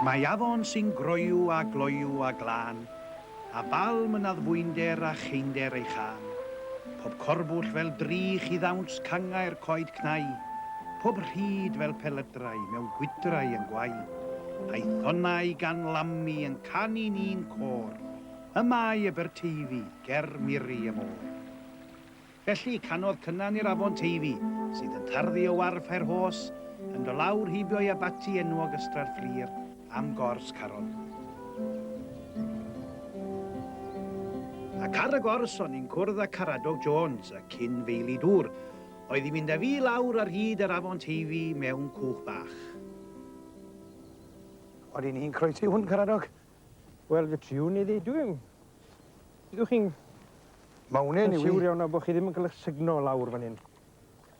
Mae afon sy'n groyw a gloyw a glân, a balm yn addfwynder a cheinder ei chân, pob corbwll fel drych i ddawns cangau'r coed cnau, pob rhyd fel pelydrau mewn gwydrau yn gwau, a'i thonnau gan lamu yn canu'n un côr, y mae Aberteifi ger miri y môr. Felly, canodd Cynan i'r afon Teifi, sydd yn tarddu o warf Fairhorse, yn do lawr heibio i abaty enwog Ystrad Fflur, am gors Caron. Ac ar y gors o'n i'n cwrdd â Caradog Jones, y cyn feili dŵr, oedd i fynd â fi lawr ar hyd yr afon Teifi mewn cwch bach. Odi ni'n croesi hwn, Caradog? Wel fe triwn i ddeud dwi yn... Ydw chi'n... Ma' wnna'n newydd. ...yn siwr iawn nawr bo' chi ddim yn ca'l 'ych sugno lawr fan 'yn.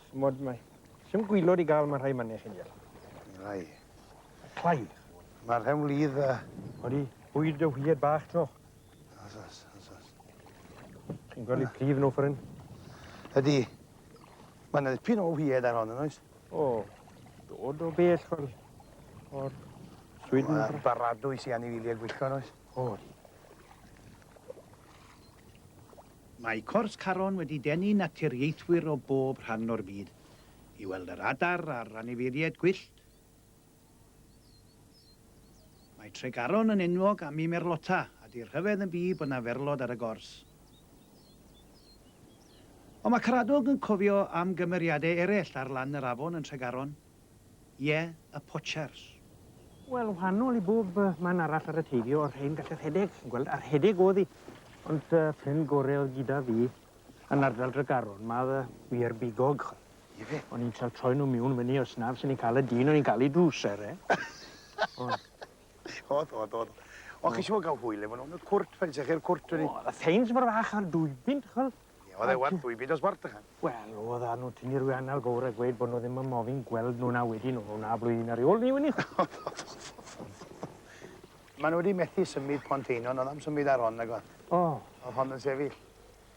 Ch'mod mae... Sdim gwilod i ga'l ma' rhai manne chi'n deall. Clai. Clai? Ma'r rhen wlydd a... Odi, bwyd y wierd bach t'mo'? O's o's o's o's. Chi'n gwel' 'i prif nw ffor 'yn? Ydi. Ma' 'na ddipyn o wierd ar hon yn oes? O, dod o bell o'r... o'r... Sweden. Mae'r baradwy sy'n anifiliau gwyllgon oes? O, di. Mae Cors Caron wedi denu naturiaethwyr o bob rhan o'r byd i weld yr adar a'r anifeiliaid gwyllt. Mae Tregaron yn enwog am ei merlota, a 'di'r rhyfedd yn byd bod 'na ferlod ar y gors. Ond mae Caradog yn cofio am gymeriadau eraill ar lan yr afon yn Tregaron. Ie, y Pochers. Wel, wahanol i bob man arall ar y Teifi o'r rhein gall y rhedeg, chi'n gweld, a rhedeg o'dd 'i. Ond y ffrind gore o'dd gyda fi yn ardal Dregaron, ma' o'dd y wir bigog. Ife? O'n i'n trio troi nhw miwn fyny os naf sy'n ni'n cael y dyn o'n i'n gael ei drwser e. Oedd, oedd, oedd. Ond chi siŵr gael hwyl efo nhw? Oedd cwrt, fel ydych chi'r cwrt wedi? Oedd y ffeins mor fach ar dwy bint, chwel. Oedd e werth dwy bint os werth ychan? Wel, oedd a nhw tynnu rwy anal gowr a gweud bod nhw ddim yn mofyn gweld nhw na wedi nhw, na blwyddyn ar ei ôl ni wedi. Mae nhw wedi methu symud pont einon, oedd am symud ar hon, nag oedd? O. Oedd hon yn sefyll.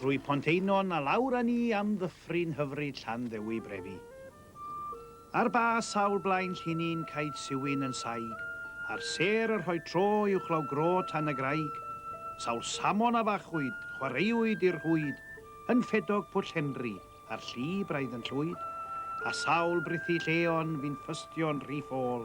Trwy Pont Einon a lawr â ni am ddyffryn hyfryd Llanddewi Brefi. Ar ba sawl blaen llinyn caed siwyn yn saig, a'r sêr yn rhoi tro uwchlaw gro tan y graig, sawl samon a fachwyd, chwaraewyd i'r rhwyd, yn ffedog Pwll Henry, a'r lli braidd yn llwyd, a sawl brithu lleon fu'n ffystio'n rhy ffôl,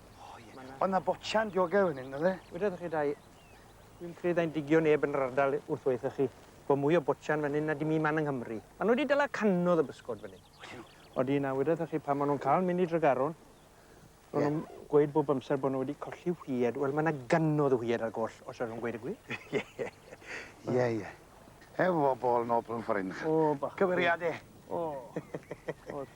O ie. Ma' 'na... O' 'na botsian diogel fyn 'yn o'dd e? Wedodd chi dai dwi'm credu ddai'n digio neb yn yr ardal wrth weutho chi bo' mwy o botsian fyn 'yn na dim un man yng Nghymru. Ma' nw 'di dala cannodd o bysgod fyn 'yn. Odyn nw? Odyn a wedodd chi pan ma' nw'n ca'l myn' i Dregaron ma' nw'n gweud bob amser bo' nw wedi colli whied wel ma' 'na gannodd o whied ar goll os allwn gweud y gwir. Ie ie. Ie ie. Efo bol nobl yn ffor 'yn. O bach. Cymeriade. O. Odd.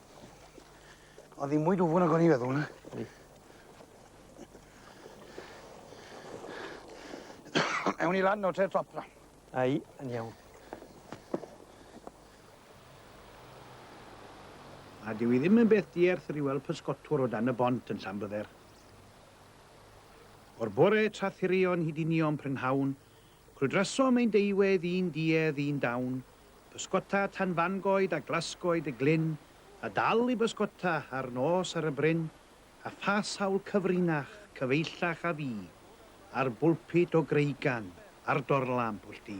Oedd hi'n mwy dwfwn nag o'n i'n feddwl. Ydi. Ewn ni lan nawr te i'r top na. Ai, yn iawn. A dyw i ddim yn beth dierth rhyw weld pysgotwr o dan y bont yn Llanbydder. O'r bore tra thirion hyd i nion prynhawn, Cwrdrasom ein deuwedd i'n duedd i'n dawn, pysgota tan fangoed a glasgoed y glyn, a dal i bysgota a'r nos ar y bryn, a pha sawl cyfrinach, cyfeillach a fu, ar bwlpud o greigan, ar dorlamp o llu.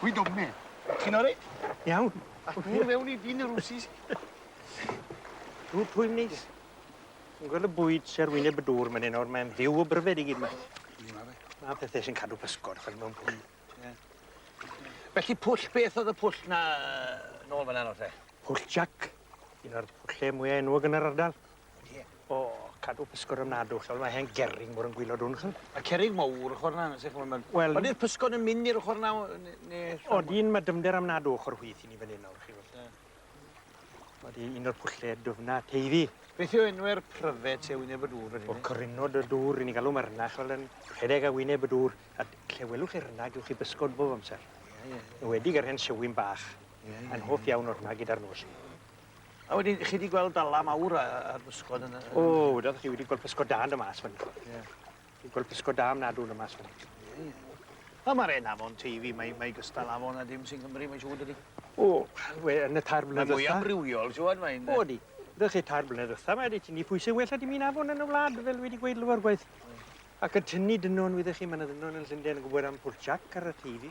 Hwyl dwfn, mate. Ti'n o reit? Iawn. A dŵr fewn i dîn y Rwsis. Dŵr twym neis. Ti'n gweld y bwyd sy ar wyneb y dŵr myn 'yn nawr mae'n fyw o bryfed i gyd 'ma. Ie ma' fe. Ma' pethe sy'n cadw pysgod ch'od mewn pwll. Ie. Felly pwll beth o'dd y pwll 'na yy nôl fyn 'na nawr te? Pwll Jac. Un o'r pwlle mwya enwog yn yr ardal. Ie. O, cadw pysgod ofnadw, ch'wel ma' hen gerrig mor yn gwilod wn ch'wel. Ma' cerrig mowr ochor 'na se ch'mo' ma'n... Wel... Odi'r pysgod yn myn' i'r ochor 'na o ne' ne'... Odyn ma' dyfnder ofnadw ochor chwith i ni fyn 'yn nawr chi wel. Ie. Odi un o'r pwlle dwfna Teifi. Beth yw enwe'r pryfed sy ar wyneb y dŵr fyn 'yn? O Corynod y Dŵr ry'n ni'n galw ma' rynna ch'wel yn rhedeg ar wyneb y dŵr a d- lle welwch chi rynna gewch chi bysgod bob amser. Ie ie. Enwedig yr hen siwyn bach. Ie ie. Mae'n hoff iawn o rynna gyda'r nos. A wedyn, chi 'di gweld Bala mawr a a'r bysgod yn y... O, wedoch chi wedi gweld pysgod da yn do' mas fyn 'yn. Ie. Wedi gweld pysgod da ofnadw yn do' mas fyn 'yn. Ie, ie. Wel ma'r 'en afon Teifi, mae mae gystal afon a dim sy Nghymru mae'n siŵr dydi? O, we- yn y tair blynedd ddwetha... Mae mwy amrywiol t'wod mae'n yy... O ydi. W'ch chi tair blynedd ddwetha mae 'di tynnu pwyse well na dim un afon yn y wlad fel wi 'di gweud lawer gwaith. Ie. Ac yn tynnu dynon wyddoch chi ma' 'na ddynon yn Llunden yn gwbod am Pwll Jac ar y Teifi.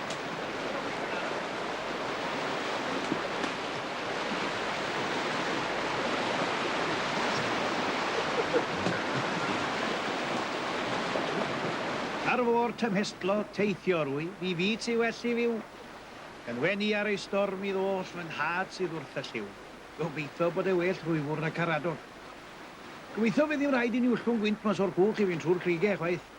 Ar fôr tymhestlodd teithiwr wyf i fi ti well i fyw. Yn wenu ar ei storm i ddoll fy nhad sydd wrth y llyw. Gobeitho bod e well rhwyfwr na caradog. Gobeitho fydd ddim rhaid i ni wllwng gwynt mas o'r cwch i fynd trwy'r crugau chwaith.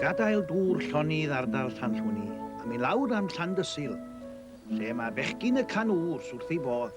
Gadael dŵr llonydd ardal Llanllwni am i lawr am Llandysul, lle mae bechgyn y can wrs wrth ei fodd.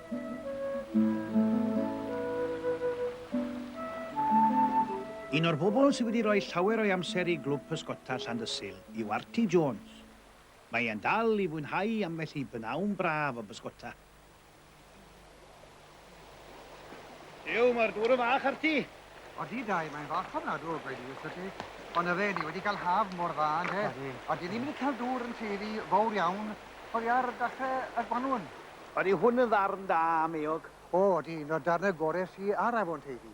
Un o'r bobl sydd wedi rhoi llawer o'i amser i Glwb Pysgota Llandysul yw Arti Jones. Mae e'n dal i fwynhau ambell i b'nawn braf o bysgota. Duw, mae'r dŵr yn fach, Arti! Odi, Dai, mae'n fach ofnadw, gweud i wrthot ti. Ond yfe, ni wedi cael haf mor dda, ynde? Odi. Odi, ni wedi cael dŵr yn tueddu fawr iawn oddi ar dachrau y gwanwyn. Odi, hwn yn ddarn da am eog. O, odi, un o'r darnau gorau sy ar afon Teifi.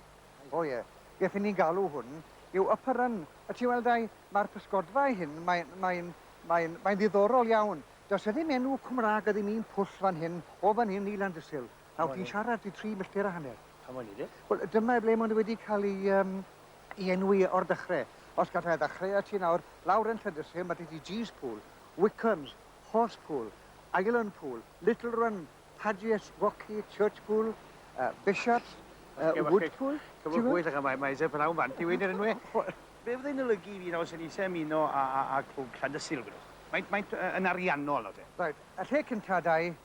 O, ie. Beth y'n ni'n galw hwn yw upper run. Y ti'n weld, Dai, mae'r pysgodfa ei hun, mae'n, mae'n, mae'n, mae'n ddiddorol iawn. Does e ddim enw Cymraeg, a ddim un pwll fan hyn, o fan hyn i Landysul. Nawr, fi'n siarad i tri milltir a hanner. Pam o'n i de? Wel, dyma ble maen nhw wedi cael ei, um, ei enwi o'r dechrau. Os gallai ddechrau a ti nawr, lawr yn Llydysyn, mae dydi Gee's Pool, Wickham's, Horse Pool, Island Pool, Little Run, Padgett's, Rocky, Church Pool, uh, Bishop's, uh, Wood Pool... Cyfo gwyll ac mae Isaac Brown fan ti wedi enw e. Be fyddai'n olygu i fi nawr sy'n eisiau ymuno â, â, â clwb Llandysul, gwydwch? Mae'n, mae'n yn ariannol nawr te. Right, y lle cyntaf, dau,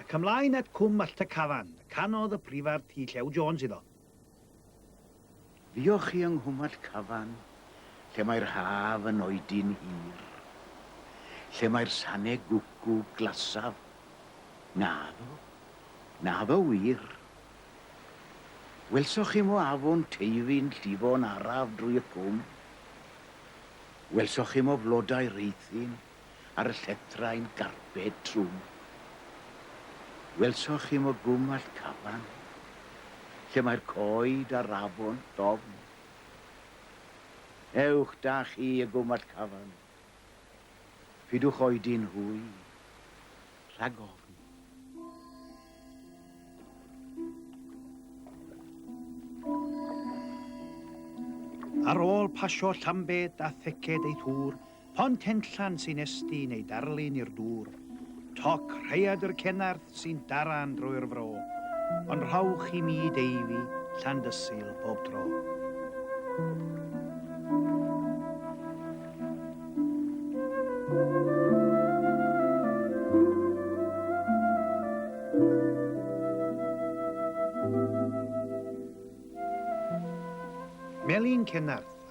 Ac ymlaen at Cwm Allt y Cafan, canodd y Prifardd T. Llew Jones iddo. Fuoch chi yng Nghwm Allt Cafan, lle mae'r haf yn oedi'n hir? Lle mae'r sane gwcw glasaf? Naddo. Naddo wir. Welsoch chi mo afon Teifi'n llifo'n araf drwy'r cwm? Welsoch chi mo flodau Rhuthun? ar y llethrau yn garbed trwm. Welsoch chi mo gwmwallt Caban, lle mae'r coed a'r afon dofn? Ewch da chi i gwmwallt Caban, pidwch oedi'n hwy rhag ofn. Ar ôl pasio Llambed a Theced ei thŵr, Pont Henllan sy'n estyn ei darlun i'r dŵr. Toc Rhaeadr Cenarth sy'n daran drwy'r fro. Ond rhowch i mi Deifi, Llandysul bob tro.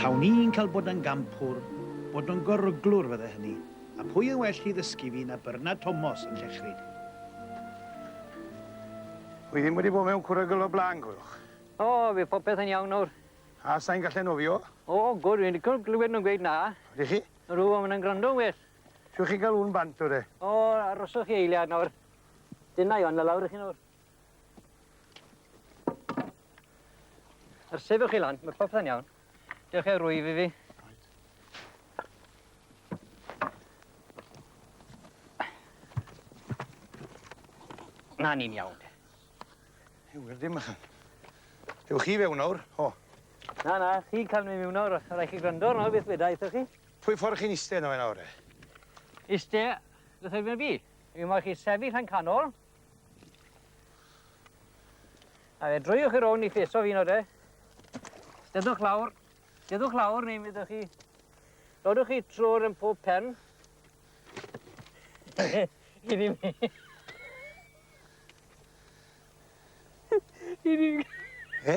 Tawn i'n cael bod yn gampwr, bod yn goruglwr fydde hynny, a pwy yn well i ddysgu fi na Bernard Thomas yn Llechryd. Wi ddim wedi bod mewn cwrygl o blaen, coelwch. O, fydd popeth yn iawn nawr. A sain gallu nofio? O, gwr, fi'n licio glywed nhw'n gweud na. Ydych chi? Rŵan maen nhw'n gwrando'n well. Siwch chi gael un bant o de? O, aroswch chi eiliad nawr. Dyna i anfon lawr i chi nawr. Yr sefyll chi lan, mae popeth yn iawn. Dewch i'r rwyf i fi. Na ni'n iawn. Yw, wir dim ychan. Dewch chi fewn nawr, o. Na, na, chi cael mi mewn nawr, rhaid chi gwrando nawr beth weda eitho chi. Pwy ffordd chi'n iste nawr e nawr e? Iste, beth oedd fi? Fi mo'ch chi sefyll yn canol. A fe drwy'ch chi rown i ffeso fi nawr de. Dedwch lawr. Dedwch lawr neu mi ddwch chi... Dodwch chi trwy'r yn pob pen. I ddim... I ddim... He?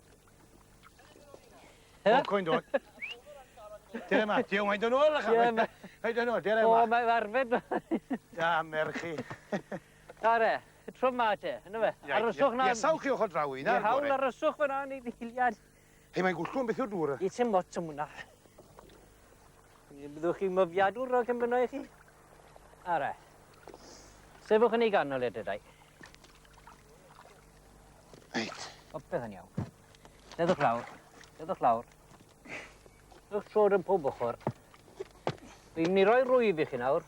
Bob coin dod. Dyna ma, diolch, mae'n dod nôl, achos. Ie, mae'n dod nôl, dyna ma. O, mae'n arfed. Da, merchi. Are, trwm ma te, yna fe. Aryswch na... Iesawch chi ochr draw i, na? Ie, hawl aryswch fe na, neu ddiliad. Hei, mae'n gwllgwm beth yw'r dŵr. Ie, ti'n mot am hwnna. Byddwch chi'n myfiadwr o cymryd i chi? Are. Sefwch yn ei ganol edrych, dau. Reit. Popeth yn iawn. Dedwch lawr. Dedwch lawr. Ydwch trod yn pob ochr. Fi'n mynd i roi rwyf i chi nawr.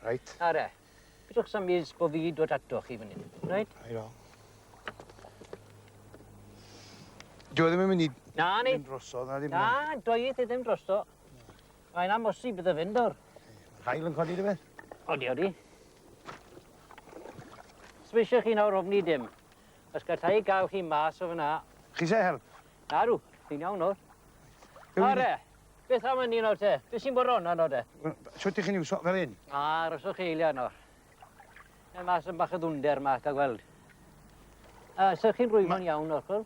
Reit. Are. Bydwch sam mis bod fi dod ato chi fan hyn. Reit? Reit o. Dwi e ddim yn mynd i... Na, ni. Ddim drosodd, na ddim... Na, dweud i ddim drosto. Mae'n amosib iddo fynd nawr. Hael yn codi rhywbeth? Odi, odi. Swisio chi nawr ofni dim. Os gallai gael chi mas o fyna... Chi se help? Na rw, fi'n iawn nawr. Are, beth am yn un o'r te? Beth sy'n bod ron yno te? Sut ych chi'n iwso fel hyn? A, rhoswch eiliau yno. Mae mas yn bach o ddwnder yma, da gweld. A, sych chi'n rwymo'n iawn, Orchel?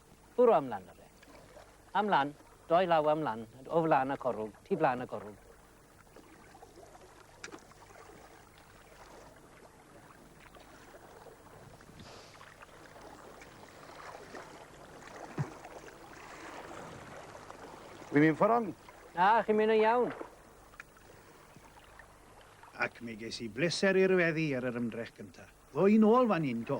Bwrw am lan 'da fe. Am lan, doi law am lan, o flan y corwg, tu flan y corwg. Wi'n mynd ffordd on? Na, chi'n mynd yn iawn. Ac mi ges i bleser i'r weddi ar yr ymdrech gyntaf. Ddo i'n ôl fan hyn to.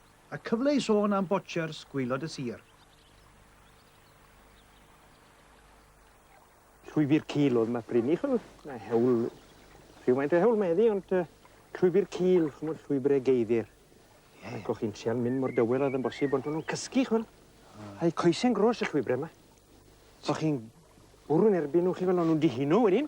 A cyfle i sôn am Botchers, gwaelod y sir. Llwybr cul oedd Map Bryn Uchel, mae hewl, rhywfaint o hewl mae eddi, ond uh, llwybr cul, chymod, llwybrau geiddir. Yeah. Ac o'ch chi'n trial mynd mor dywel oedd yn bosib, ond o'n nhw'n cysgu, chymod. Ah. A'i coesau'n gros y llwybrau yma. O'ch chi'n bwrw'n erbyn nhw chi fel o'n nhw'n dihino wedyn.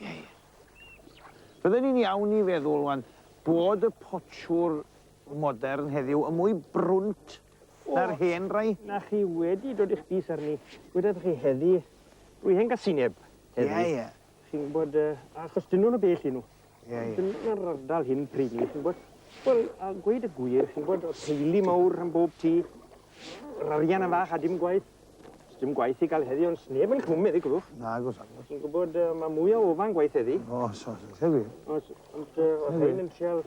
Ie, ie. Bydden i'n iawn i feddwl wan bod y potsiwr modern heddiw yn mwy brwnt na'r hen rai. Na chi wedi dod i'ch bys arni. Gwyddoch chi heddi, rwy hen gasineb heddi. Ie, ie. Chi'n gwybod, uh, achos dyn nhw'n y bell i nhw. Ie, ie. Dyn nhw'n ardal hyn pryd ni, chi'n gwybod. Wel, a gweud y gwir, chi'n gwybod, teulu mawr rhan bob tŷ, yr arian yn fach a dim gwaith. Sdim gwaith i gael heddi ond sneb yn cwm heddi, gwrwch. Nag os agos. Ti'n gwybod, uh, mae mwy o ofan gwaith heddi. O, os os, eitha gwir. Os, ond uh, os hyn yn trial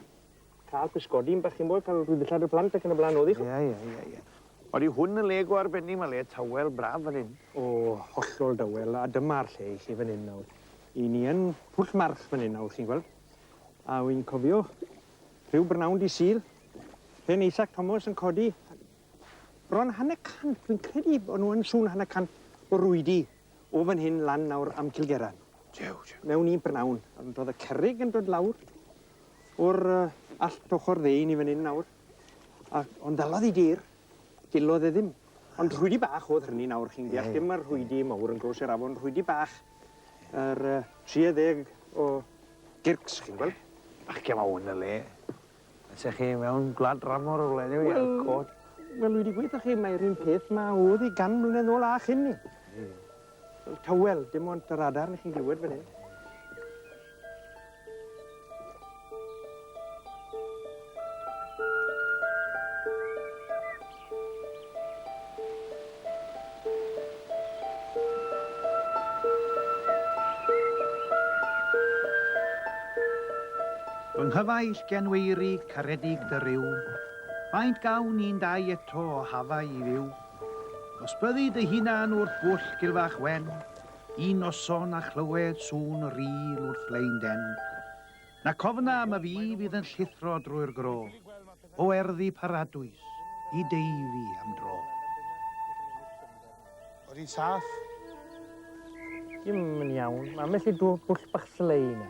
cael pysgodi'n bach i'n bod, cael rhywbeth ddillad y plant ac yn y blaen oedd i chi. Ie, ie, ie, ie. Ond i hwn yn le go arbennig, mae le tawel braf fan hyn. O, hollol dawel, a dyma'r lle i chi fan hyn nawr. I ni yn pwll march fan hyn nawr, chi'n gweld. A wy'n cofio rhyw brynawn di syl, pen Isaac Thomas yn codi Bron hanner cant, fi'n credu bod nhw yn sŵn hanner cant o rwydi o fan hyn lan nawr am Cilgeran. Jew, jew. Mewn un prynawn. Ond oedd y cerrig yn dod lawr o'r uh, allt ochr ddeun i fan hyn nawr. A, ond ddalodd i dir, dillodd e ddim. Ond rhwydi bach oedd hynny nawr, chi'n deall, dim mae'r rhwydi mawr yn gros i'r afon, rhwydi bach, yr uh, 30 o gyrcs, chi'n gweld? Ac yma hwn y le. Ydych chi mewn gwlad dramor o wledig i Elcoed? Wel, dwi wedi gweud wrthych chi, mae'r un peth ma oedd i gan mlynedd ôl a chyn ni. Wel, tywel, dim ond yr adar ni chi'n glywed fan hyn. Fy nghyfaill genweirig caredig dy ryw, Faint gawn ni'n dau eto o hafau i fyw? Os byddi dy hunan wrth bwll gilfach wen, Un noson a chlywed sŵn yr ŵyl wrth lein den, Na cofna am y fi fydd yn llithro drwy'r gro, o erddi paradwys i Deifi am dro. Oedd hi'n saff? Dim yn iawn. Mae ambell i dŵr bwll bach slei yna.